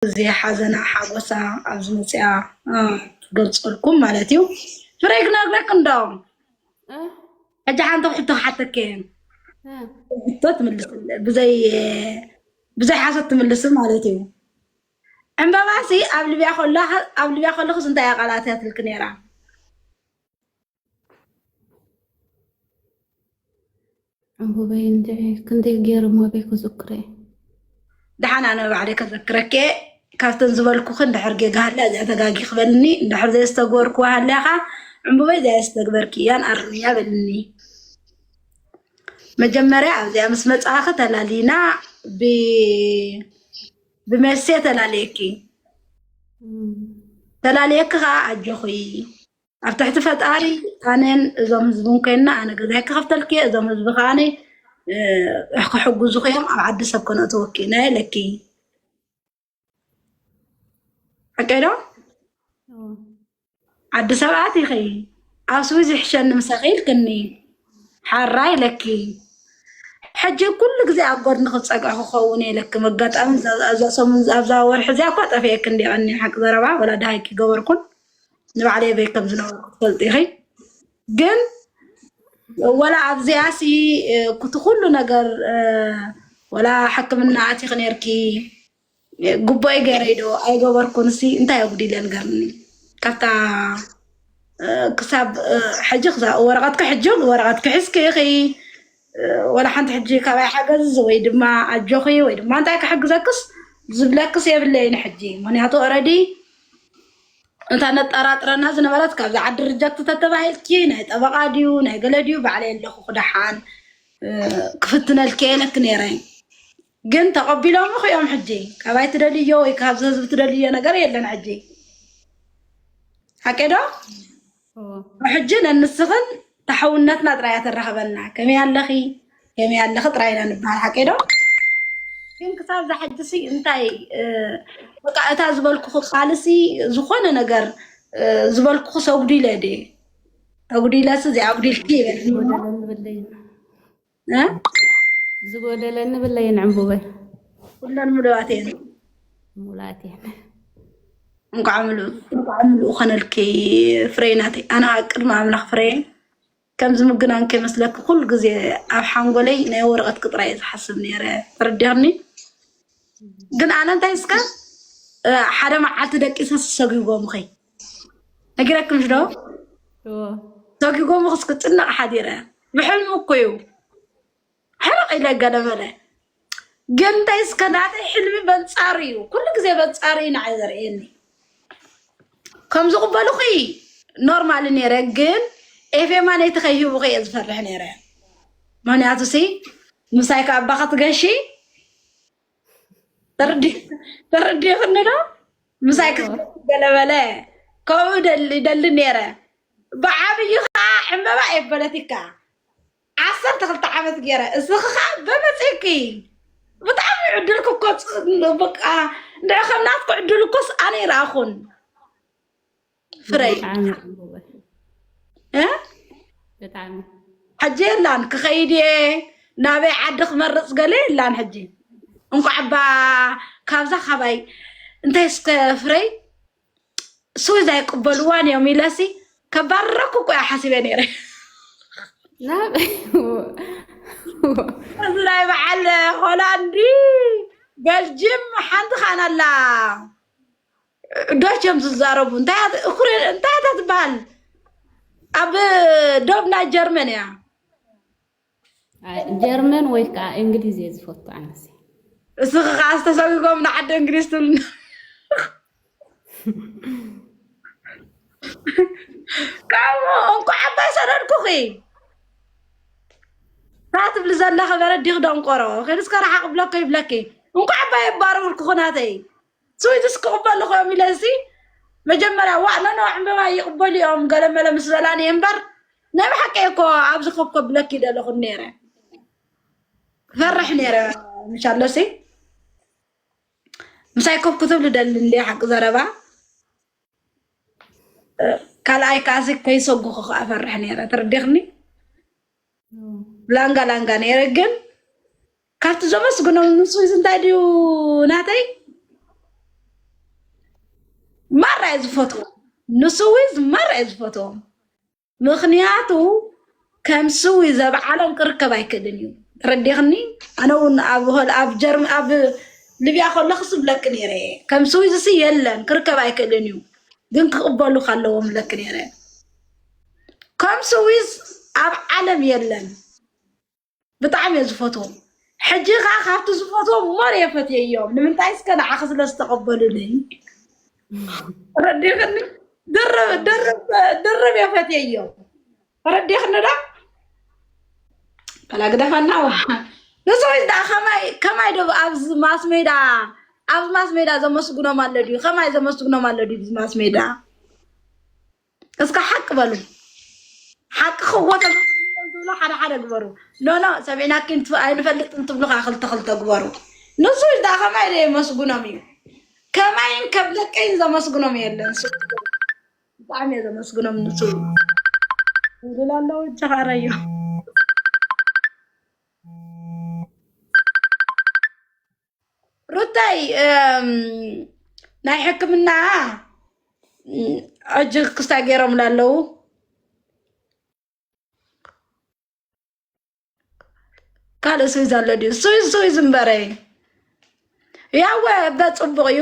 እዚ ሓዘና ሓጎሳ ኣብ ዝመፅኣ ትገልፀልኩም ማለት እዩ ፍረይ ክነግረክ እንዶ ሕጂ ሓንቲ ሕቶ ክሓተኪ ሕቶ ትምልስ ብዘይ ብዘይ ሓሶት ትምልስ ማለት እዩ ዕምበባሲ ኣብ ልብያ ከሎ ኣብ ልብያ ከለኹስ እንታይ እያ ቃላት እያ ትልኪ ነይራ ዕንቡበይ እንድዒ ክንደይ ገይሮሞ በይ ክዝክረ ደሓን ኣነ ባዕለይ ከዘክረኪ እየ ካብተን ዝበልኩክን ድሕር ጌጋ ሃልያ እዚኣ ተጋጊ ክበልኒ ድሕር ዘየዝተግበርኩ ሃልያኻ ዕንቡበይ እዚኣ ዝተግበርኪ እያን ኣርምያ በልኒ መጀመርያ ኣብዚኣ ምስ መፅኣኺ ተላሊና ብ- ብመሴ ተላለየኪ ተላለየኪ ከዓ ኣጆኺ ኣብ ትሕቲ ፈጣሪ ኣነን እዞም ህዝብን ኮይና ኣነ ገዛይ ክኸፍተልኪ እየ እዞም ህዝቢ ከዓ ክሕግዙ እዮም ኣብ ዓዲ ሰብ ከነእትወኪ ኢና ኢለኪ ሓቀይ ዶ ዓዲ ሰብ ኣቲኺ ኣብ ስዊዝ ይሕሸኒ ምሳኺ ኢልክኒ ሓራ ኢለኪ ሕጂ ኩሉ ግዜ ኣብ ጎድኒ ክፀግዕ ክኸውን የለኪ መጋጣሚ ኣብዛ ወርሒ እዚኣ እኳ ጠፊኤ ክንዲ ቀኒ ሓቂ ዘረባ ወላ ድሃይኪ ገበርኩን ንባዕለይ ኣበይ ከም ዝነበርኩ ትፈልጢ ኢኺ ግን ወላ ኣብዚኣ ሲ እቲ ኩሉ ነገር እ፣ ወላ ሕክምና ኣቲኺ ነርኪ ጉባኤ ገይረይ ዶ ኣይገበርኩን ሲ እንታይ ኣጉዲለ ንገርኒ ካብታ እ፣ ክሳብ እ፣ ሕጂ ክሳብ ወረቐትኪ ሕጂ ወረቐትኪ ሒዝኪ ኢኺ እ፣ ወላ ሓንቲ ሕጂ ካባይ ሓገዝ ወይ ድማ ኣጆኺ ወይ ድማ እንታይ ክሕግዘክስ ዝብለክስ የብለይን ሕጂ ምክንያቱ ኦልሬዲ እታ ነጠራጥረና ዝነበረት ካብዛ ዓዲ ርጀክት ተተባሂልኪ ናይ ጠበቃ ድዩ ናይ ገለ ድዩ ባዕለይ ኣለኹ ክደሓን ክፍትነልኪ የለክ ነይረ ግን ተቀቢሎምኽ እዮም ሕጂ ካባይ ትደልዮ ወይ ካብዚ ህዝቢ ትደልዮ ነገር የለን ሕጂ ሓቄዶ ሕጂ ነንስኽን ንሓውነትና ጥራይ እያ ተራኽበና ከመይ ኣለኺ ከመይ ኣለኺ ጥራይ ኢና ንበሃል ሓቀይ ዶ ግን ክሳብ ዛሕጅሲ እንታይ በቃ እታ ዝበልኩኹ ቃልሲ ዝኾነ ነገር ዝበልኩኹ ሰጉዲለ ድ ተጉዲለሲ እዚኣ ኣጉዲልኪ ይበልኒ ዝጎደለኒ ብለይን ዕምቡበይ ኩለን ምሉኣት እየን ሙላት እየን እንኳዕ ምሉእ እንኳዕ ምሉእ ኮነልኪ ፍረይ ናተይ ኣነ ከዓ ቅድሚ ኣምላኽ ፍረየ ከም ዝምግናን ከይመስለኪ ኩሉ ግዜ ኣብ ሓንጎለይ ናይ ወረቐት ክጥራ እየ ዝሓስብ ነይረ ተረዲኽኒ ግን ኣነ እንታይ እስከ ሓደ መዓልቲ ደቂሰ ዝሰጉጎምኸይ ነጊረክምሽ ዶ ተጊጎምክስ ክፅናዕ ሓዲረ ብሕልሚ እኮ እዩ ሕርቕ ኢለ ገለመለ ግን እንታይ እስከ ናተይ ሕልሚ በንፃር እዩ ኩሉ ግዜ በንፃር እዩ ንዓይ ዘርእየኒ ከም ዝቕበልኹ ኖርማል ነይረ ግን ኤፌማ ነይቲ ከይህብኹ እየ ዝፈርሕ ነይረ ምክንያቱ ሲ ምሳይ ከኣባ ክትገሺ ተረዲኹኒ ዶ ምሳይ ክትገለበለ ከምኡ ይደሊ ነይረ ብዓብዩ ከዓ ዕምበባ እየ ፖለቲካ ዓሰርተ ክልተ ዓመት ገይረ እስኺ ከዓ በመፅኪ ብጣዕሚ ዕድልክ እኮ በቃ ንዕ ከም ናትኩ ዕድል እኮስ ኣነ ይረኣኹን ፍረይ ብጣዕሚ ጽቡቅ እ ብጣዕሚ ሕጂ የላን ክኸይድ እየ ናበይ ዓዲ ክመርፅ ገለ የላን ሕጂ እንኳዕ እባ ካብዛ ካባይ እንታይ እስከ ፍረይ ስዊዝ ኣይቅበልዋን እዮም ኢለሲ ከባረኩ እኮ እያ ሓሲበ ነይረ ናብ እዚ ናይ በዓል ሆላንዲ ቤልጅም ሓንቲ ካን ኣላ ዶች እዮም ዝዛረቡ እንታይ እያ ት- እኩሬ እንታይ እያ እታ ትበሃል ኣብ ዶብ ናይ ጀርመን እያ ኣይ፣ ጀርመን ወይ ከዓ እንግሊዝ እየ ዝፈቱ ኣነሲ እስኺ ከዓ ዝተሰጉጎም ንዓዲ እንግሊዝ ትብልና ካብኡ እንኳዕ ኣባይ ሰደድኩኺ እታ ትብሊ ዘለኺ በረዲኽ ደንቆሮ ከይድስከ ረሓቕ ብለኮ ይብለኪ እንኳዕ ኣባይ ኣባረርኩኹ ናተይ ስዊዝስ ክቕበሉ ኸዮም ኢለሲ መጀመርያ ዋእ ኖኖ ዕምበባ ይቕበሉ እዮም ገለመለ ምስ በላኒ እምበር ናይ ብሓቂ እኮ ኣብዚ ኮብ ከብለኪ ደለኹ ነይረ ክፈርሕ ነይረ ምሻሎሲ ምሳይ ኮብ ክትብሉ ደሊ እንደ ሓቂ ዘረባ ካልኣይ ከዓሲ ከይሰጉኹ ከዓ ፈርሕ ነይረ ትርዲኽኒ ላንጋ ላንጋ ነይረ ግን ካብቲ ዘመስግኖም ንሱስ እንታይ ድዩ ናተይ ማራ እየ ዝፈትዎ ንስዊዝ ማራ እየ ዝፈትዎም ምክንያቱ ከም ስዊ ዘብዓሎም ክርከብ ኣይክእልን እዩ ተረዲኽኒ ኣነ እውን ኣብ ሆል- ኣብ ጀርም ኣብ ልብያ ከለኹ ስብለኪ ነይረ እየ ከም ስዊዝ ሲ የለን ክርከብ ኣይክእልን እዩ ግን ክቕበሉካ ኣለዎም ብለኪ ነይረ ከም ስዊዝ ኣብ ዓለም የለን ብጣዕሚ እየ ዝፈትዎም ሕጂ ከዓ ካብቲ ዝፈትዎም ሞር እየ ፈትየዮም ንምንታይ እስከ ንዓኺ ስለ ዝተቐበሉኒ ረዲኽኒ ድርብ ድርብ ድርብ እየ ፈትየዮም ረዲኽኒ ዳ በላ ግደፈና ዋ ንሰዎች ዳ ከማይ ከማይ ዶ ኣብዚ ማስ ሜዳ ኣብዚ ማስ ሜዳ ዘመስግኖም ኣሎ ድዩ ከማይ ዘመስግኖም ኣሎ ድዩ ማስ ሜዳ እስከ ሓቂ በሉ ሓቂ ክወተ ዝብሎ ሓደ ሓደ ግበሩ ኖኖ ሰሚዕናኪ ኣይንፈልጥ እንትብሉ ከዓ ክልተ ክልተ ግበሩ ንሱ ዳ ከማይ ደ የመስግኖም እዩ ከማይን ከም ደቀይን ዘመስግኖም የለን ሱ ብጣዕሚ እየ ዘመስግኖም ንሱ ይብል ኣለዉ ጀኻረዮ ሩታይ ናይ ሕክምና ሕጂ ክስታይ ገይሮምላ ኣለዉ ካልእ ስዊዝ ኣሎ ድዩ ስዊዝ ስዊዝ እምበረይ ያወ በፅቡቅ እዩ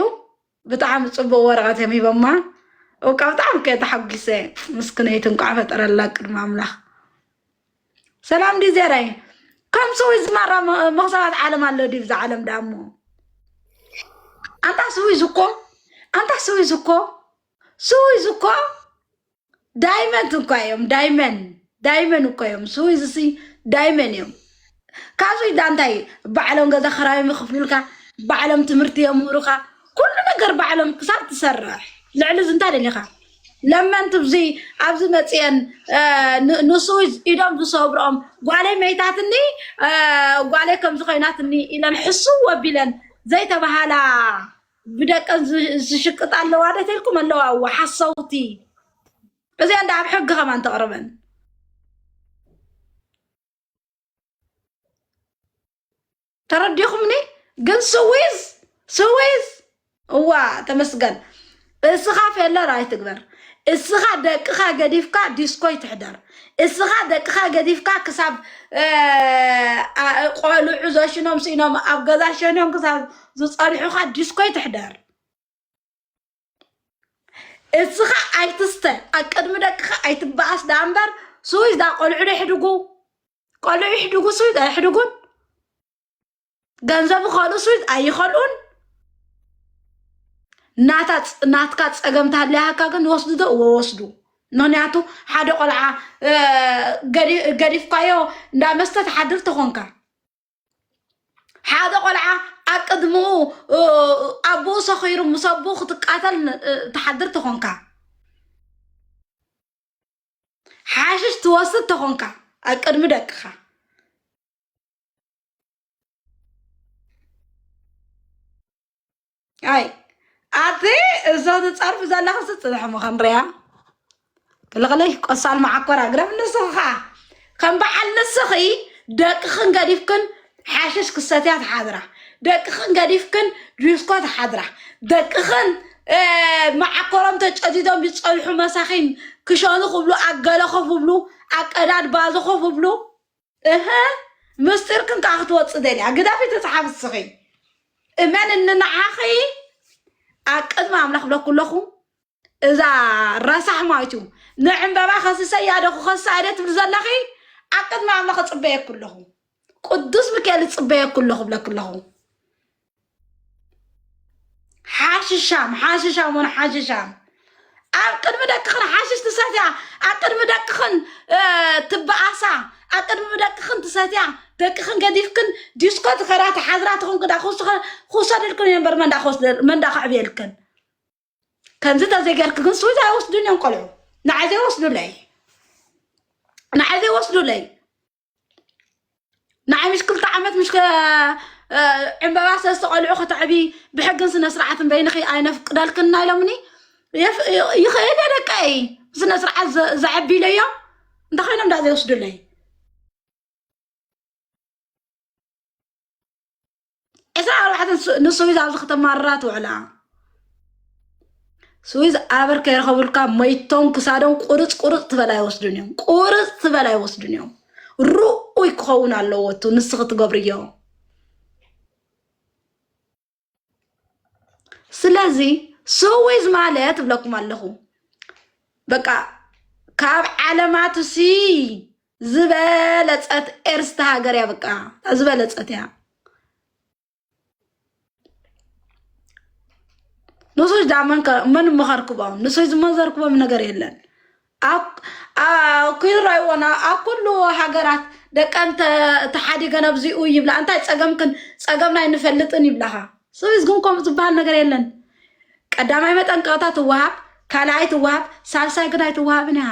ብጣዕሚ ፅቡቅ ወረቀት እዮም ሂቦማ እውቃ ብጣዕሚ ከ ተሓጒሰ ምስክነይቲ እንኳዕ ፈጠረላ ቅድሚ ኣምላክ ሰላም ዲ ዘራይ ከም ስዊ ዝማራ መክሰባት ዓለም ኣሎ ዲብ ዛ ዓለም ዳሞ ኣንታ ስዊ ዝኮ ኣንታ ስዊ ዝኮ ስዊ ዝኮ ዳይመንት እኳ እዮም ዳይመን ዳይመን እኮ እዮም ስዊዝሲ ዳይመን እዮም ካብ ስዊዳ እንታይ ባዕሎም ገዛ ክራዮም ይኽፍሉልካ ባዕሎም ትምህርቲ የምህሩካ ኩሉ ነገር ባዕሎም ክሳብ ትሰርሕ ልዕሊ እዚ እንታይ ደሊኻ ለመንቲ ብዙ ኣብዚ መፅአን አ፣ ን- ንስዊዝ ኢዶም ዝሰብርኦም ጓለይ መይታትኒ አ፣ ጓለይ ከምዚ ኮይናትኒ ኢለን ሕስው ወቢለን ዘይተባሃላ ብደቀን ዝሽቅጣ ኣለዋ ዶ ተልኩም ኣለዋ እዋ ሓሰውቲ እዚኣን ዳኣብ ሕጊ ከማን ተቕርበን ተረዲኹምኒ ግን ስዊዝ ስዊዝ እዋ ተመስገን እስኻ ፌለር ኣይትግበር እስኻ ደቅኻ ገዲፍካ ዲስኮይ ትሕደር እስኻ ደቅኻ ገዲፍካ ክሳብ ቆልዑ ዘሽኖም ስኢኖም ኣብ ገዛ ሸኖም ክሳብ ዝፀንሑኻ ዲስኮይ ትሕደር እስኻ ኣይትስተ ኣብ ቅድሚ ደቅኻ ኣይትበኣስ ዳኣ እምበር ስዊዝ ዳ ቆልዑ ዶ ይሕድጉ ቆልዑ ይሕድጉ ስዊዝ ኣይሕድጉን ገንዘብ ይኸእሉ ስዊዝ ኣይኸልኡን ናታ ፅ- ናትካ ፀገም ታለያካ ግን ወስዱ ዶ እወ ወስዱ ምክንያቱ ሓደ ቆልዓ እ፣ ገዲ- ገዲፍካዮ እንዳ መስተ ትሓድር ተኾንካ ሓደ ቆልዓ ኣብ ቅድምኡ ኣቦኡ ሰኺሩ ምስ ኣቦኡ ክትቃተል ተሓድር ተኾንካ ሓሽሽ ትወስድ ተኾንካ ኣብ ቅድሚ ደቅኻ ኣይ ኣቲ እዞ ትፀርፊ ዘለኺ ስፅንሕ እሞ ክንሪያ ክልኽለይ ቆሳል መዓኮር ኣግረም ንስኺ ከዓ ከም በዓል ንስኺ ደቅኽን ገዲፍክን ሓሽሽ ክሰትያ ትሓድራ ደቅኽን ገዲፍክን ጁስኮ ትሓድራ ደቅኽን እ፣ መዓኮሮም ተጨዲዶም ይፀንሑ መሳኺን ክሸኑ ክብሉ ኣገለ ኮፍ ብሉ ኣቀዳድ ባዞ ኮፍ ብሉ እህ ምስጢርክን ከዓ ክትወፅእ ደልያ ግደፊ ትፅሓፍ እስኺ እመንኒ ንዓኺ ኣብ ቅድሚ ኣምላኽ ብለኩ ኣለኹ እዛ ረሳሕ ማይቱ ንዕምበባ ከስሰያ ዶ ክኸሳ ኢለ ትብል ዘለኺ ኣብ ቅድሚ ኣምላኽ እፅበየኩ ኣለኹ ቅዱስ ሚካኤል እፅበየኩ ኣለኹ ብለኩ ኣለኹ ሓሽሻም ሓሽሻም ውን ሓሽሻም ኣብ ቅድሚ ደቅኽን ሓሽሽ ትሰትያ ኣብ ቅድሚ ደቅኽን ትበኣሳ ኣብ ቅድሚ ደቅኽን ትሰትያ ደቅኽን ገዲፍክን ዲስኮ ትኸዳ ተሓዝራ ትኹን ክዳ ክውሰደልክን እየን በር መንዳ ከዕብየልክን ከምዚ ተዘይገርክ ግን ስዊዝ ኣይወስዱን እዮም ቆልዑ ንዓይ ዘይወስዱለይ ንዓይ ዘይወስዱለይ ንዓይ ምሽ ክልተ ዓመት ምሽ ዕምበባ ሰለስተ ቆልዑ ከተዕቢ ብሕግን ስነ ስርዓትን በይንኺ ኣይነፍቅደልክን ናይ ሎምኒ ይኽእል እየ ደቀይ ስነ ስርዓት ዘዕቢ ኢለዮ እንታይ ኮይኖም ዳ ዘይወስዱለይ ዕስራ ኣርባዕተ ንስዊዝ ኣብዚ ከተማርራ ትውዕላ ስዊዝ ኣበር ከይረኸብልካ መይቶም ክሳዶም ቁርፅ ቁርፅ ትበል ኣይወስዱን እዮም ቁርፅ ትበል ኣይወስዱን እዮም ርኡይ ክኸውን ኣለዎ እቱ ንስኺ ትገብርዮ ስለዚ ስዊዝ ማለት እብለኩም ኣለኹ በቃ ካብ ዓለማት ሲ ዝበለፀት ኤርስታ ሃገር እያ በቃ እታ ዝበለፀት እያ ንሶች ዳ መን መኸርክቦም ንሶች ዝመዘርክቦም ነገር የለን ኩይራይዎና ኣብ ኩሉ ሃገራት ደቀን ተሓዲገን ኣብዚኡ ይብላ እንታይ ፀገምክን ፀገምና ኣይንፈልጥን ይብላኻ ስለዚ ግን ከምኡ ዝበሃል ነገር የለን ቀዳማይ መጠንቀቕታ ትወሃብ ካልኣይ ትወሃብ ሳልሳይ ግን ኣይትወሃብን እያ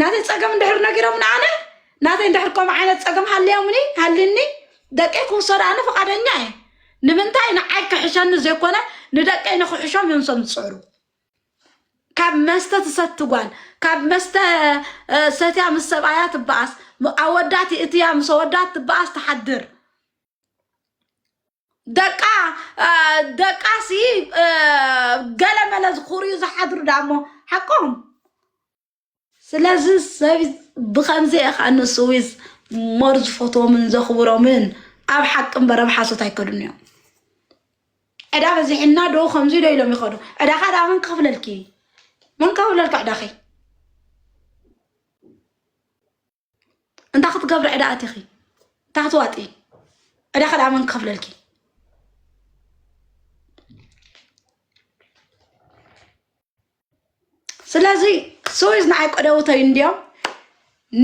ናተይ ፀገም እንድሕር ነጊሮም ንኣነ ናተይ እንድሕር ከምኡ ዓይነት ፀገም ሃልዮምኒ ሃልኒ ደቀይ ክውሰዱ ኣነ ፈቃደኛ እየ ንምንታይ ንዓይ ክሕሸኒ ዘይኮነ ንደቀይ ንክሕሾም እዮም ሰም ዝፅዕሩ ካብ መስተ ትሰቲ ጓል ካብ መስተ እ፣ ሰትያ ምስ ሰብኣያ ትበኣስ ም- ኣወዳት እትያ ምስ ኣወዳት ትበኣስ ትሓድር ደቃ አ፣ ደቃሲ አ፣ ገለመለ ዝኹርዩ ዝሓድሩ ዳ እሞ ሓቆም ስለዚ ሰብ ብከምዚ እየ ከዓ ንስዊዝ ሞር ዝፈትዎምን ዘኽብሮምን ኣብ ሓቂ እምበር ኣብ ሓሶት ኣይከዱን እዮም ዕዳ በዚሕና ዶ ከምዚ ዶ ኢሎም ይኸዱ ዕዳኻ ዳ መን ክኽፍለልኪ መን ክኽፍለልኪ ዕዳኺ እንታይ ክትገብሪ ዕዳ ኣቲኺ እንታይ ክትዋጢ ዕዳ ከደኣ መን ክኸፍለልኪ ስለዚ ስዊዝ ንዓይ ቀደውተይ እንዲዮም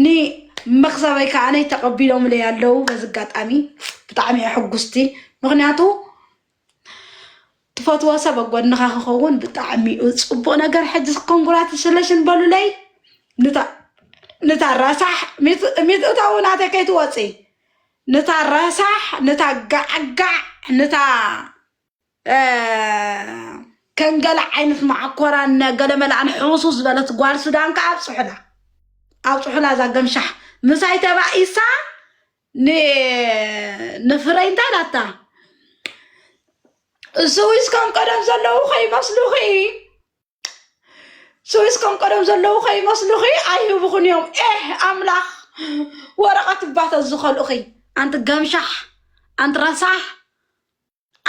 ንመክሰበይ ከዓ ነይ ተቐቢሎምለይ ኣለዉ በዚ ኣጋጣሚ ብጣዕሚ እየ ሕጉስቲ ምክንያቱ ትፈትዎ ሰብ ኣብ ጎንኻ ክኸውን ብጣዕሚ እዩ ፅቡቅ ነገር ሕጂ ኮንግራትስለሽን በሉለይ ንታ ንታ ረሳሕ ሚት- ሚትእታ እውን ኣተ ከይትወፂ ንታ ረሳሕ ንታ ጋዕጋዕ ንታ አ፣ ከንገለ ዓይነት ማዓኮራን ገለመላን ሕውሱ ዝበለት ጓል ሱዳን ከዓ ኣብፅሑላ ኣብፅሑላ እዛ ገምሻሕ ምሳይ ተባኢሳ ን- ንፍረይ እንታይ ላታ ስዊስ ከም ቀደም ዘለዉ ከይመስሉኺ ስዊስ ከም ቀደም ዘለዉ ከይመስሉኺ ኣይህብኹን እዮም ኤህ ኣምላኽ ወረቐት ባተ ዝኸልኡኺ ኣንቲ ገምሻሕ ኣንቲ ረሳሕ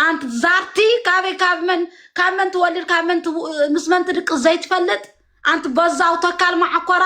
ኣንቲ ዛርቲ ካበይ ካብ መን ካብ መን ትወልድ ካብ መን ትው- ምስ መን ትድቂ ዘይትፈልጥ ኣንቲ በዛው ተካል ማዓኮራ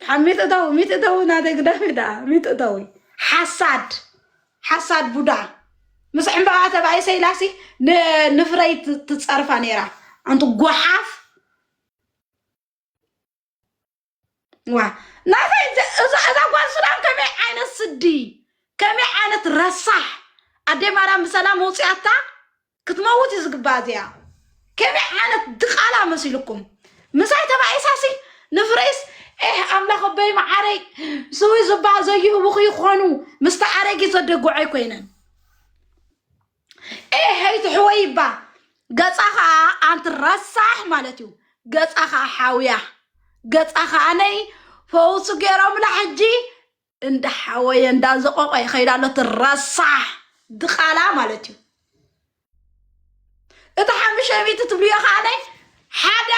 ድሓን ሚትእታዊ ሚትእታዊ ናተይ ግዳሜ ደኣ ሚትእታዊ ሓሳድ ሓሳድ ቡዳ ምስ ዕምባባ ተባኢ ሰይላሲ ንፍረይ ትጸርፋ ነይራ ኣንቲ ጓሓፍ ዋ ናተይ እዛ ጓል ሱዳን ከመይ ዓይነት ስዲ ከመይ ዓይነት ረሳሕ ኣዴ ማርያም ብሰላም ውፅኣታ ክትመውት እዩ ዝግባኣ እዚኣ ከመይ ዓይነት ድቓላ መሲልኩም ምሳይ ተባኢሳሲ ንፍረይስ ኤህ ኣምላኽ ኣበይ መዓረይ ስዊ ዝበሃል ዘይህቡኽ ይኾኑ ምስቲ ኣረጊት ዘደግዖይ ኮይነን ኤሄይ ትሕወይ ይባ ገፃ ከዓ ኣንቲ ረሳሕ ማለት እዩ ገፃ ከዓ ሓውያ ገፃ ከዓ ነይ ፈውሱ ገይሮምላ ሕጂ እንዳሓወየ እንዳዘቆቆ ይኸይድ ኣሎ እቲ ረሳሕ ድቓላ ማለት እዩ እቲ ሓሙሽተ ሚእቲ ትብልዮ ከዓነ ሓደ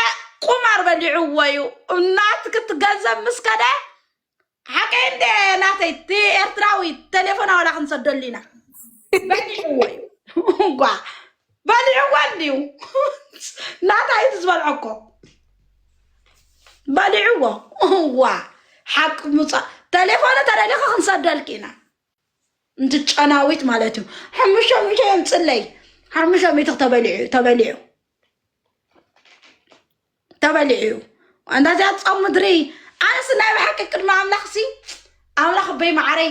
ቁማር በሊዕዎ እዩ እናት ክትገንዘብ ምስ ከደ ሓቂ እንደ ናተይ እቲ ኤርትራዊ ቴሌፎና ዋላ ክንሰደሉ ኢና በሊዕዎ እዩ እንኳ በሊዕዋ እንድዩ ናታ እዩ ዝበልዖ እኮ በሊዕዎ እዋ ሓቂ ምውፃእ ቴሌፎኑ ተደሊኸ ክንሰደልክ ኢና እንት ጨናዊት ማለት እዩ ሓሙሽተ ሚእቲ እዮም ፅለይ ሓሙሽተ ሚእቲ ተበሊዑ ተበሊዑ ተበሊዑ እዩ ኣንታ እዚኣ ፆም ምድሪ ኣነስ ናይ ብሓቂ ቅድሚ ኣምላኽ ሲ ኣምላኽ በይ መዓረይ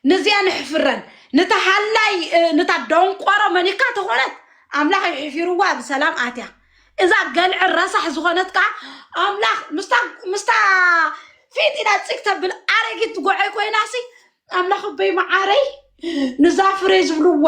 ንዚኣ ንሕፍረን ንታ ሃላይ እ፣ ንታ ደንቆሮ መኒካ ተኾነት ኣምላኽ እዩ ሕፊርዋ ብሰላም ኣትያ እዛ ገልዕ ረሳሕ ዝኾነት ከዓ ኣምላኽ ምስታ ምስታ ፊት ኢና ፅግ ተብል ኣረጊት ጎዐይ ኮይናሲ ኣምላኽ በይ መዓረይ ንዛ ፍሬ ዝብልዋ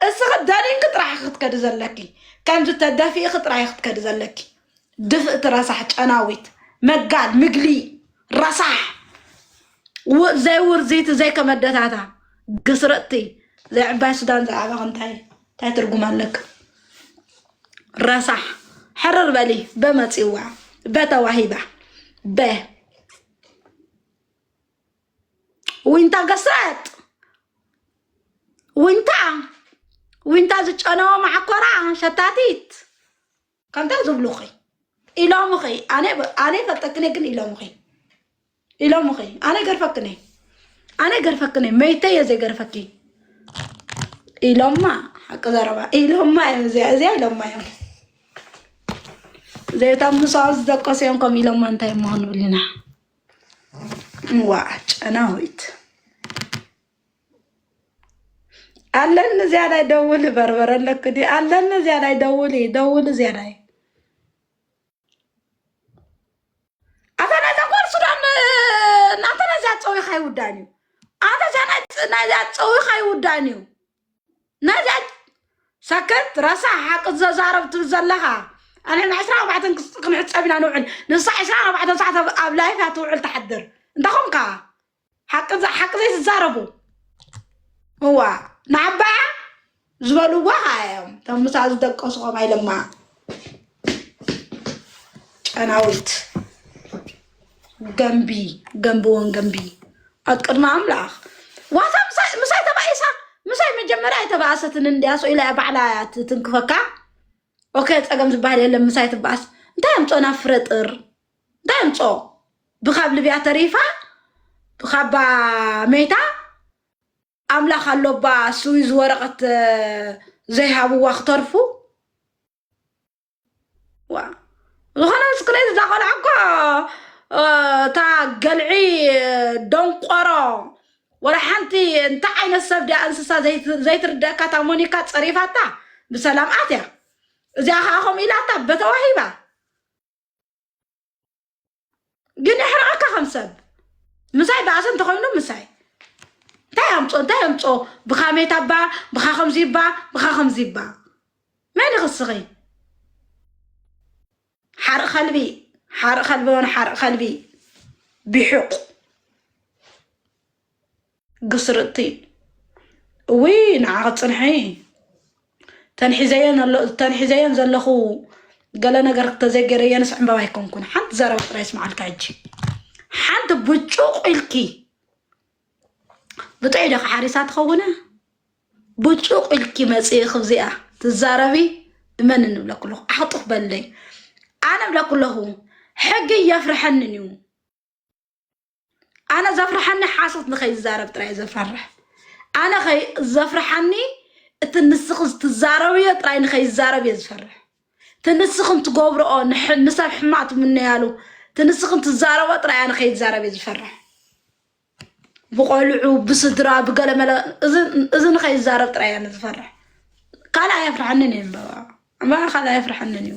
እስኺ ደኒንኪ ጥራሕ ኢኺ ክትከዲ ዘለኪ ከምዚ ተደፊእኺ ጥራሕ ኢኺ ክትከዲ ዘለኪ ድፍእቲ ረሳሕ ጨናዊት መጋል ምግሊ ረሳሕ ው- ዘይውርዚቲ ዘይከመደታታ ግስርጥቲ ዘይዕባይ ሱዳን ዝዓበኺ እንታይ እንታይ ትርጉም ኣለኪ ረሳሕ ሕርር በሊ በመፂዋ በተዋሂባ በ ዊንታ ገስረጥ ዊንታ ዊንታ ዝጨነወ ማዓኮራ ሸታቲት ከምታ ዝብሉኺ ኢሎምኺ ኣነ ኣነ ይፈልጠክነ ግን ኢሎምኺ ኢሎምኺ ኣነ ገርፈክነ ኣነ ገርፈክነ መይተ እየ ዘይገርፈኪ ኢሎማ ሓቂ ዘረባ ኢሎማ እዮም እዚኣ እዚኣ ኢሎማ እዮም ዘይታ ምሳኡ ዝደቀሱ እዮም ከም ኢሎማ እንታይ እሞ ክንብልና እዋ ጨናዊት ኣለኒ እዚያ ላይ ደውል በርበረ ኣለክ ዲ ኣለኒ እዚያ ላይ ደውል ደውል እዚያ ላይ ኣታ ናይ ተኮር ሱዳን እናንተ ነዚያ ፀዊኻ ይውዳን እዩ ኣታ እዚያ ናይ ፀዊኻ ይውዳን እዩ ነጃጅ ሰክት ረሳሕ ሓቂ ዘዛረብ ትብል ዘለኻ ኣነ ዕስራ ኣርባዕተን ክስ- ክንሕፀብ ኢና ንውዕል ንሳ ዕስራ ኣርባዕተን ሰዓት ኣብ- ኣብ ላይፍ እያ ትውዕል ትሓድር እንታይ ኾንካ ሓቂ ዘ- ሓቂ ዘይትዛረቡ እዋ ንዓባያ ዝበልዋ ኸዓ እዮም እቶም ምሳ ዝደቀሱ ኸም ኣይለማ ጨናዊት ገንቢ ገንብዎን ገንቢ ኣብ ቅድሚ ኣምላኽ ዋታ ምሳይ- ምሳይ ተባኢሳ ምሳይ መጀመርያ ኣይተባእሰትን እንድያ ሰው ኢላ ባዕላ እያ ትትንክፈካ ኦኬ ፀገም ዝበሃል የለን ምሳይ ትበኣስ እንታይ ኣምፆ ናብ ፍረ ጥር እንታይ ኣምፆ ብካብ ልብያ ተሪፋ ብካባ መይታ ኣምላኽ ኣሎባ ስዊዝ ወረቐት ዘይሃብዋ ክተርፉ ዋ ዝኾነ ምስክነይ እዛ ቆልዓ እኮ እታ ገልዒ ደንቆሮ ወላ ሓንቲ እንታይ ዓይነት ሰብ ድያ እንስሳ ዘይትርደካ እታ ሞኒካ ፀሪፋታ ብሰላም ኣትያ እዚኣ ከዓ ከምኡ ኢላታ በተዋሂባ ግን የሕርቐካ ከም ሰብ ምሳይ ባእሲ እንተኮይኑ ምሳይ እንታይ ኣምፆ እንታይ ኣምፆ ብካሜታ ባ ብካ ከምዚ ባ ብካ ከምዚ ባ መን ይኽስኺ ሓርቕ ከልቢ ሓርቕ ከልቢ ሆነ ሓርቕ ከልቢ ቢሑቕ ግስርጥቲ እውይ ንዓኺ ፅንሒ ተንሒዘየን ኣሎ ተንሒዘየን ዘለኹ ገለ ነገር ተዘይገይረየንስ ዕምበባ ኣይኮንኩን ሓንቲ ዘረባ ጥራይ ስምዓልካ ሕጂ ሓንቲ ብጩቕ ኢልኪ ብጥዑይ ዶ ሓሪሳ ትኸውነ ብጩቕ ኢልኪ መፅኢ ክብዚኣ ትዛረቢ እመን እንብለኩ ኣለኹ ዓኽጡኽ በለይ ኣነ ብለኩ ኣለኹ ሕጊ እየፍርሐንን እዩ ኣነ ዘፍርሓኒ ሓሶት ንኸይዛረብ ጥራይ ዘፈርሕ ኣነ ዘፍርሓኒ እቲ ንስኺ ትዛረብዮ ጥራይ ንኸይዛረብ እየ ዝፈርሕ እቲ ንስኽን ትገብርኦ ንሰብ ሕማቅ ትምነያሉ እቲ ንስኽን ትዛረቦ ጥራይ ኣነ ከይዛረብ እየ ዝፈርሕ ብቆልዑ ብስድራ ብገለመለ እዚ ንኸይዛረብ ጥራይ ኣነ ዝፈርሕ ካልእ ኣየፍርሐንን እዩ እምበባ እምበባ ካልእ ኣየፍርሐንን እዩ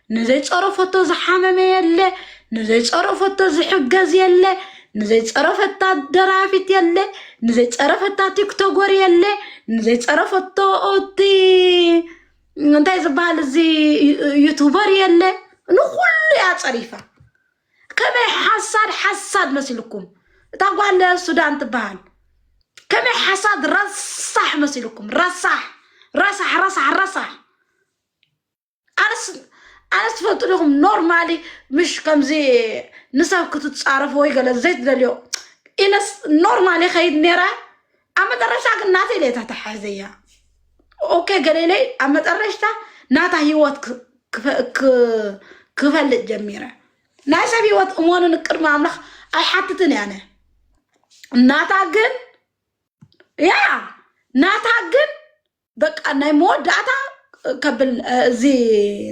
ንዘይፀረፈቶ ዝሓመመ የለ ንዘይፀረፈቶ ዝሕገዝ የለ ንዘይፀረፈታ ደራፊት የለ ንዘይፀረፈታ ቲክቶጎር የለ ንዘይፀረፈቶ እቲ እንታይ ዝበሃል እዚ ዩቱበር የለ ንኩሉ እያ ፀሪፋ ከመይ ሓሳድ ሓሳድ መሲልኩም እታ ጓለ ሱዳን ትበሃል ከመይ ሓሳድ ረሳሕ መሲልኩም ረሳሕ ረሳሕ ረሳሕ ረሳሕ ኣነስ ኣነስ ትፈልጡ ዲኹም ኖርማሊ ምሽ ከምዚ ንሰብ ክትፃረፍ ወይ ገለ ዘይትደልዮ ኢለስ ኖርማሊ ከይድ ነይራ ኣብ መጠረሻ ግን ናተይ ለታ ተሓዘያ ኦኬ ገሌለይ ኣብ መጠረሽታ ናታ ህይወት ክ- ክፈ- ክ- ክፈልጥ ጀሚረ ናይ ሰብ ህይወት እሞንን ቅድሚ ኣምላኽ ኣይሓትትን እያ ኣነ ናታ ግን ያ ናታ ግን በቃ ናይ መወዳእታ ከብል እዚ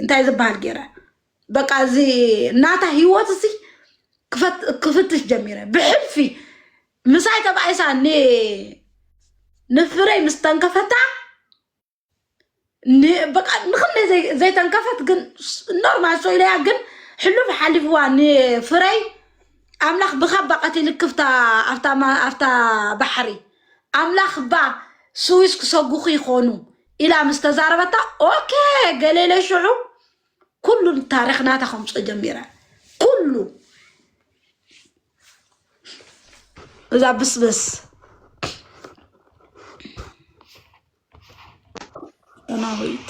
እንታይ ዝበሃል ገይረ በቃ እዚ ናታ ህይወት እዚ ክፈት- ክፍትሽ ጀሚረ ብሕልፊ ምሳይ ተባኢሳ ን- ንፍረይ ምስ ተንከፈታ ን- በቃ ንክንደይ ዘይ- ዘይተንከፈት ግን ስ- ኖርማል ሶኢለያ ግን ሕሉፍ ሓሊፍዋ ንፍረይ ኣምላኽ ብኻባ ቀቲልክፍታ ኣብታ ማ- ኣብታ ባሕሪ ኣምላኽ እባ ስዊስ ክሰጉኹ ይኾኑ ኢላ ምስ ተዛረበታ ኦኬ ገሌለ ሽዑ ኩሉ ታሪኽ ናታ ከምፅኦ ጀሚረ ኩሉ እዛ ብስብስ ዳናዊት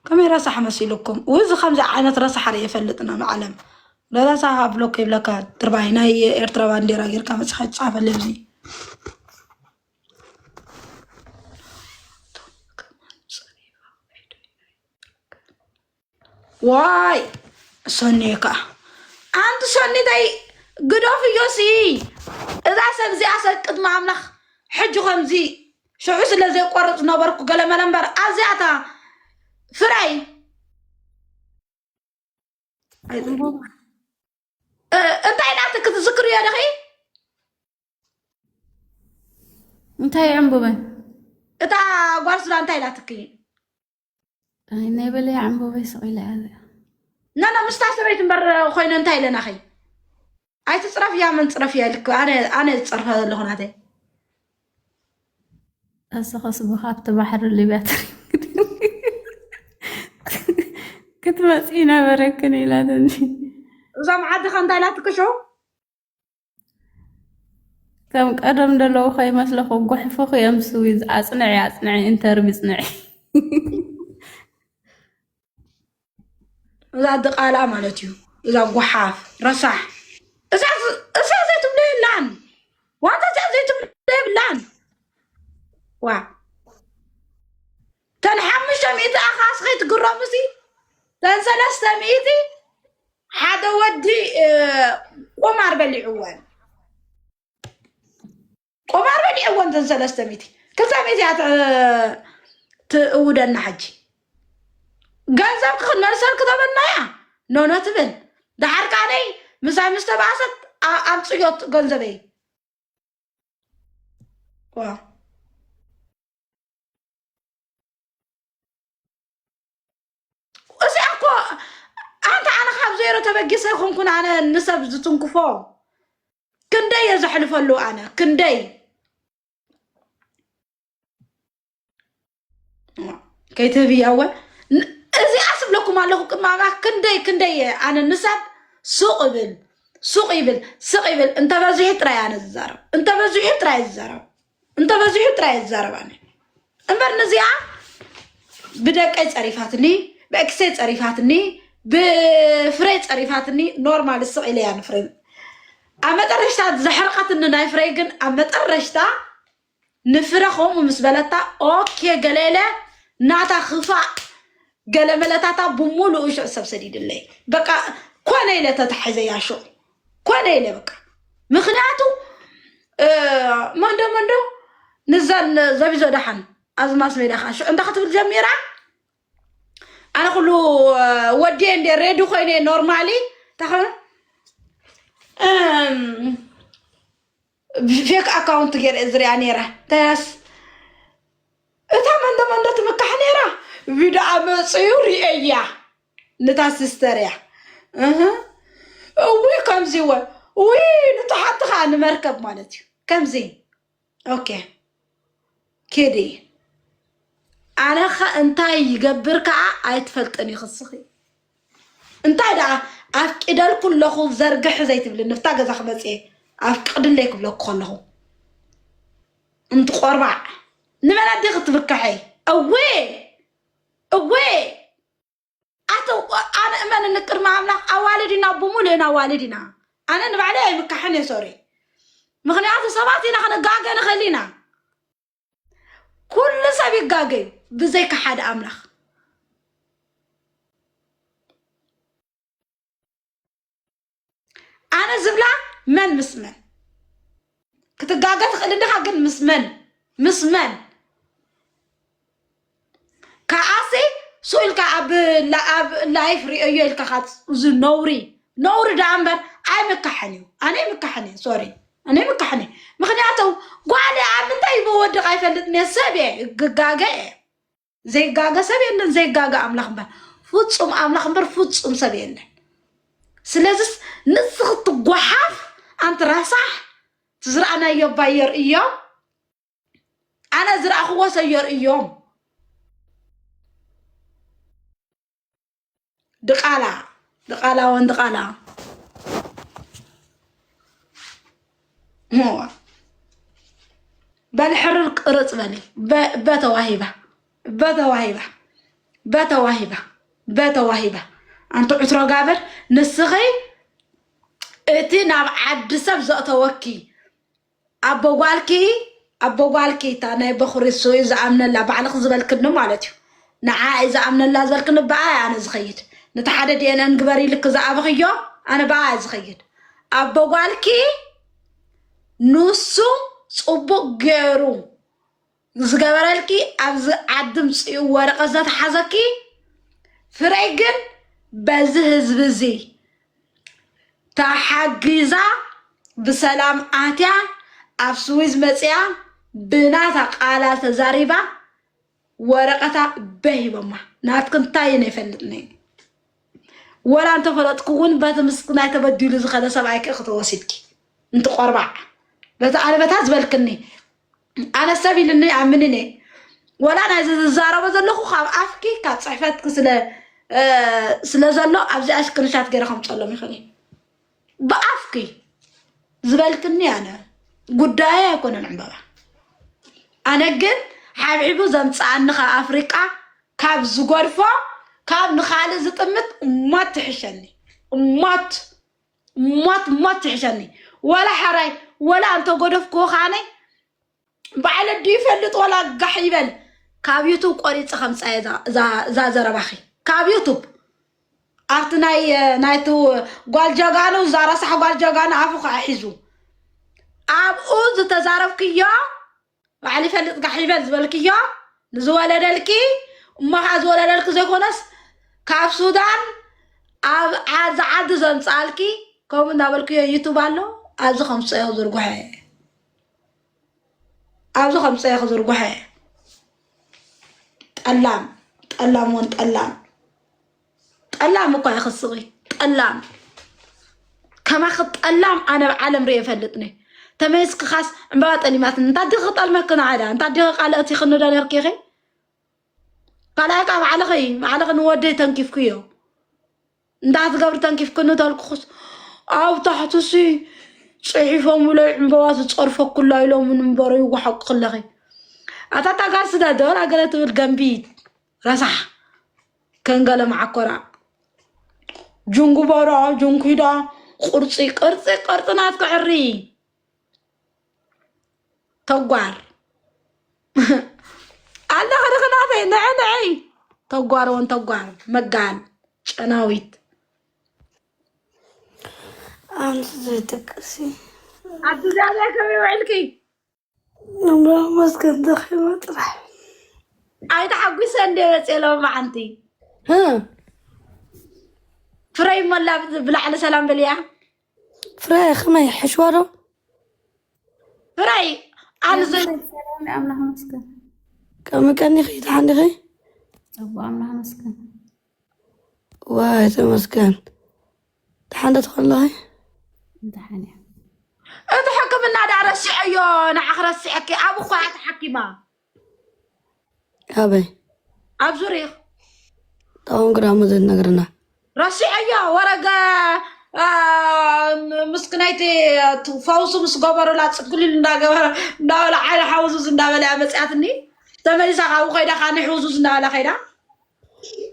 ከመይ ረሳሕ መሲሉኩም ው እዚ ከምዚ ዓይነት ረሳሕ ርኢ የፈልጥን ኣብ ዓለም ረሳሕ ኣብ ብሎክ ይብለካ ድርባይ ናይ ኤርትራ ባንዴራ ጌርካ መፅኻ ይፃፈለይ ኣብዚ ዋይ ሰኒ ከዓ ኣንቲ ሰኒተይ ግደፍ እዮሲ እዛ ሰብ እዚኣ ሰብ ቅድሚ ኣምላኽ ሕጂ ከምዚ ሽዑ ስለ ዘይቆርፅ ነበርኩ ገለመለ እምበር ኣዚኣታ ፍራይ እንታይ ናት ክትዝክር እዮ ደኺ እንታይ ዕምቡበን እታ ጓል ስራ እንታይ ኢላትኪ ናይ በለይ ዕምበበይ ስቂለ ያለ ናና ምስታ ሰበይት እምበር ኮይነ እንታይ ኢለናኸ ኣይትፅረፍ እያ መን ፅረፍ እያ ልክ ኣነ ዝፀርፈ ዘለኹ ናተይ እሰኸስ ብካብቲ ባሕሪ ሊብያ ክትመፅኢ ነበረክን ኢላትኒ እዞም ዓድኻ እንታይ ኢላትክሾ ከም ቀደም ደለዉ ከይመስለኹ ጉሕፍኹ እዮም ስዊዝ ኣጽንዒ ኣጽንዒ ኢንተርቪ ጽንዒ እዛ ድቓላ ማለት እዩ እዛ ጉሓፍ ረሳሕ እዛ ዘይትብሎ የላን ዋላ እዛ ዘይትብሎ የብላን ዋ ተን ሓሙሽተ ሚእቲ ኣኻስ ከይትግረሙሲ ተን ሰለስተ ሚእቲ ሓደ ወዲ ቁማር በሊዕወን ቁማር በሊዕወን ተን ሰለስተ ሚእቲ ክልተ ሚእቲ እያ ትእውደና ሕጂ ገንዘብ ክክነሰር ክተበልና እያ ኖኖ ትብል ደሓር ካነይ ምሳይ ምስ ተባእሰት ኣብ ፅዮት ገንዘበይ ዋ እዚኣ እኮ ኣንተ ኣነ ካብ ዜሮ ተበጊሰ ይኹንኩን ኣነ ንሰብ ዝትንክፎ ክንደይ እየ ዘሕልፈሉ ኣነ ክንደይ ከይትህብያ እወ ን- እዚኣ ስብለኩም ኣለኹ ቅማማ ክንደይ ክንደይ እየ ኣነ ንሰብ ሱቕ ይብል ሱቕ ይብል ስቕ ይብል እንተበዚሑ ጥራይ ኣነ ዝዛረብ እንተበዚሑ ጥራይ ዝዛረብ እንተበዚሑ ጥራይ ዝዛረብ ኣነ እምበር ንዚኣ ብደቀይ ፀሪፋትኒ ብእክሰይ ፀሪፋትኒ ብፍረይ ፀሪፋትኒ ኖርማል ስቕ ኢለያ ንፍረ ኣብ መጠረሽታ ዘሕርቐትኒ ናይ ፍረይ ግን ኣብ መጠረሽታ ንፍረ ከምኡ ምስ በለታ ኦኬ ገለለ ናታ ክፋእ ገለ መለታታ ብምሉኡ ሽዑ ሰብ ሰዲድለይ በቃ ኮነ ኢለ ተታሒዘያ ሽዑ ኮነ ኢለ በቃ ምክንያቱ መንዶ መንዶ ንዛን ዘቢዞ ዳሓን ኣብዚ ማስ ሜዳ ከዓ ሽዑ እንታይ ክትብል ጀሚራ ኣነ ኩሉ ወዲየ እንደ ሬዲ ኮይነ ኖርማሊ እንታይ ብፌክ ኣካውንት ገይረ እየ ዝሪኣ ነይረ እንታይስ እታ መንዶ መንዶ ትምካሕ ነይራ ቪድኣ መፅዩ ሪኤያ ንታ ሲስተር እያ እህ እውይ ከምዚ ወ ውይ ንቶ ሓቲ ከዓ ንመርከብ ማለት እዩ ከምዚ ኦኬ ኬዲ ኣነኸ እንታይ ይገብር ከዓ ኣይትፈልጥን ኢኺ እስኺ እንታይ ደኣ ኣፍቂደልኩ ኣለኹ ዘርግሒ ዘይትብሊ ንፍታ ገዛ ክመፅየ ኣፍቅድለይ ክብለኩ ከለኹ እንትቆርባዕ ንመን ኣዴኺ ትብካሐይ እዌ እዌ ኣተ ኣነ እመን ንቅድሚ ኣምላኽ ኣዋልድ ኢና ብሙሉእ ኢና ኣዋልድ ኢና ኣነ ንባዕለይ ኣይምካሕን እየ ሶሪ ምክንያቱ ሰባት ኢና ክንጋገ ንኽእል ኢና ኩሉ ሰብ ይጋገ እዩ ብዘይካ ሓደ ኣምላኽ ኣነ ዝብላ መን ምስ መን ክትጋገ ትኽእል ድኻ ግን ምስ መን ምስ መን ከዓሲ ሱ ኢልካ ኣብ ላይፍ ሪኦዮ ኢልካ ካብ እዚ ነውሪ ነውሪ ደኣ እምበር ኣይምካሕን እዩ ኣነ ይምካሕን እየ ሶሪ ኣነ ይምካሕን እየ ምክንያቱ ጓል ኣብ ምንታይ ይበወድቕ ኣይፈልጥን እየ ሰብ እየ ግጋገ እየ ዘይጋገ ሰብ የለን ዘይጋገ ኣምላኽ እምበር ፍፁም ኣምላኽ እምበር ፍፁም ሰብ የለን ስለዚስ ንዚ ክትጓሓፍ ኣንቲ ረሳሕ ትዝረኣናዮ እባ የርእዮም ኣነ ዝረኣኽዎ ሰብ የርእዮም ድቃላ ድቃላ ወን ድቃላ ሞዋ በል ሕርር ቅርጽ በል በተዋሂባ በተዋሂባ በተዋሂባ በተዋሂባ ኣንቲ ዕትሮ ጋብር ንስኺ እቲ ናብ ዓዲ ሰብ ዘእተወኪ ኣቦ ጓልኪ ኣቦ ጓልኪ እታ ናይ በኹሪ እሱ እዩ ዝኣምነላ ባዕልኺ ዝበልክኒ ማለት እዩ ንዓ እዩ ዝኣምነላ ዝበልክኒ ብኣ እየ ኣነ ዝኸይድ ነቲ ሓደ ዲኤንኤን ግበሪ ኢልኪ ዝኣብኽዮ ኣነ ብኣ እየ ዝኸይድ ኣቦ ጓልኪ ንሱ ፅቡቅ ገይሩ ዝገበረልኪ ኣብዚ ዓዲ ምፅኡ ወረቐት ዘተሓዘኪ ፍረይ ግን በዚ ህዝቢ እዚ ተሓጊዛ ብሰላም ኣትያ ኣብ ስዊዝ መፅያ ብናታ ቃላ ተዛሪባ ወረቐታ በሂቦማ ናትክ እንታይ እነ ይፈልጥኒ ወላ እንተፈለጥኩ እውን በቲ ምስ ናይ ተበዲሉ ዝኸደ ሰብኣይክ ክትወሲድኪ እንትቆርባዕ በቲ ኣንበታት ዝበልክኒ ኣነ ሰብ ኢልኒ ኣምንን እየ ወላ ናይዚ ዝዛረቦ ዘለኹ ካብ ኣፍኪ ካብ ፅሕፈትኪ ስለ እ፣ ስለ ዘሎ ኣብዚኣ ስክሪንሻት ገይረ ከምፀሎም ይኽእል እዩ ብኣፍኪ ዝበልክኒ ኣነ ጉዳየ ኣይኮነን ዕምበባ ኣነ ግን ሓብሒቡ ዘምፅኣኒ ካብ ኣፍሪቃ ካብ ዝጎድፎ ካብ ንኻልእ ዝጥምት እማት ትሕሸኒ እማት ሞት ሞት ትሕሸኒ ወላ ሓራይ ወላ እንተጎደፍክዎ ከዓነ ባዕለ ዱ ይፈልጥ ወላ ጋሕ ይበል ካብ ዩቱብ ቆሪፀ ከምፃየ እዛ ዘረባኺ ካብ ዩቱብ ኣብቲ ናይ ናይቲ ጓል ጀጋኑ እዛ ረሳሕ ጓል ጀጋኑ ኣፉ ከዓ ሒዙ ኣብኡ ዝተዛረብክዮ ባዕሉ ይፈልጥ ጋሕ ይበል ዝበልክዮ ንዝወለደልኪ እሞ ከዓ ዝወለደልኪ ዘይኮነስ ካብ ሱዳን ኣብ ዓዚ ዓዲ ዘምፅኣልኪ ከምኡ እናበልክዮ ዩቱብ ኣሎ ኣብዚ ከምፀዮ ዝርጉሐ ኣብዚ ከምፀዮ ክዝርጉሐ ጠላም ጠላም ወን ጠላም ጠላም እኳ ኢኺ ስቂ ጠላም ከማኺ ጠላም ኣነ ኣብ ዓለም ርእየ ፈልጥኒ ተመስክኻስ ዕምባባ ጠሊማትኒ እንታይ ዲኺ ክጠልመኪ ንዓዳ እንታይ ዲኺ ካልኦት ይኽኒ ዶ ነርኪኺ ካልኣይ ከዓ ባዕልኺ ባዕልኺ ንወደይ ተንኪፍክዮ እንታይ ትገብሪ ተንኪፍክኒ ተልኩኹስ ኣብ ታሕትሲ ፅሒፎምለይ ዕምባባ ዝፀርፈኩላ ኢሎምን እምበረ ይወሓቁ ክለኺ ኣታ ታጋር ስደዶር ኣገለ ትብል ገንቢት ረሳሕ ከንገለ መዓኮራ ጅንጉበሮ ጅንኪዶ ቁርፂ ቅርፂ ቅርፂ ናትኪ ዕሪ ተጓር ኣለኺ ድኽናተይ ንዐ ንዐይ ተጓር እውን ተጓር መጋል ጨናዊት ኣንቲ ዘይ ደቅሲ ኣቲ ዛበይ ከመይ ውዕልኪ ኣምላኽ መስገን ተኺሎ ጥራሕ ኣይተሓጒሰ እንደ መፅኤ ሎማዓንቲ ፍረይ ሞላ ብላዕሊ ሰላም በልያ ፍረይ ከመይ ሕሽዋ ዶ ፍረይ ኣንዚ ኣምላኽ መስገን ከምቀኒኺ ተሓኒኺ ፅቡቅ ኣምላኽ መስገን ዋይ ተመስገን ደሓን ዶ ትኾን ኣለኺ? እንተሓን እያ እቲ ሕክምና ዳ ረሲዐዮ ንዓ ክረሲዐኪ ኣብ እኳ እያ ተሓኪማ ኣበይ ኣብ ዙሪኽ ዳኹም ግዳሙ ዘይትነግርና ረሲዐዮ ወረገ አ፣ ምስክናይቲ እቲ ፈውሲ ምስ ገበሩላ ፅግሊል እንዳገበረ እንዳበለ ዓይነ ሓውዙዝ እንዳበለ እያ መፅያትኒ ተመሊሳ ካብኡ ከይዳ ካነ ሕውዙዝ እንዳበለ ከይዳ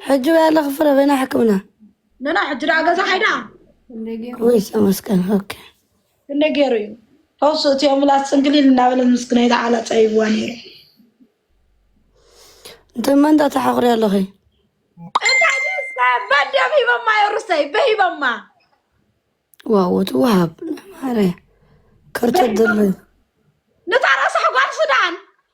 ሕጂ ወይ ኣለኺ ፍረ በይና ሕክምና ነና ሕጂ ደኣ ገዛ ሓይዳ ወይ ተመስገን ኦኬ ክንደይ ገይሩ እዩ ፈውሲ እቲ ኣምላክ ፅንግሊል እናበለ ምስ ግናይ ዝዓላ ፀይብዋ ነይሩ እንተ መንታ ተሓኽሪ ኣለኺ እንታይ ደስታ በደም ሂበማ የሩሰይ በሂበማ ዋው ትወሃብ ማረ ከርተት ድርብ ነታ ረሳሕ ጓል ሱዳን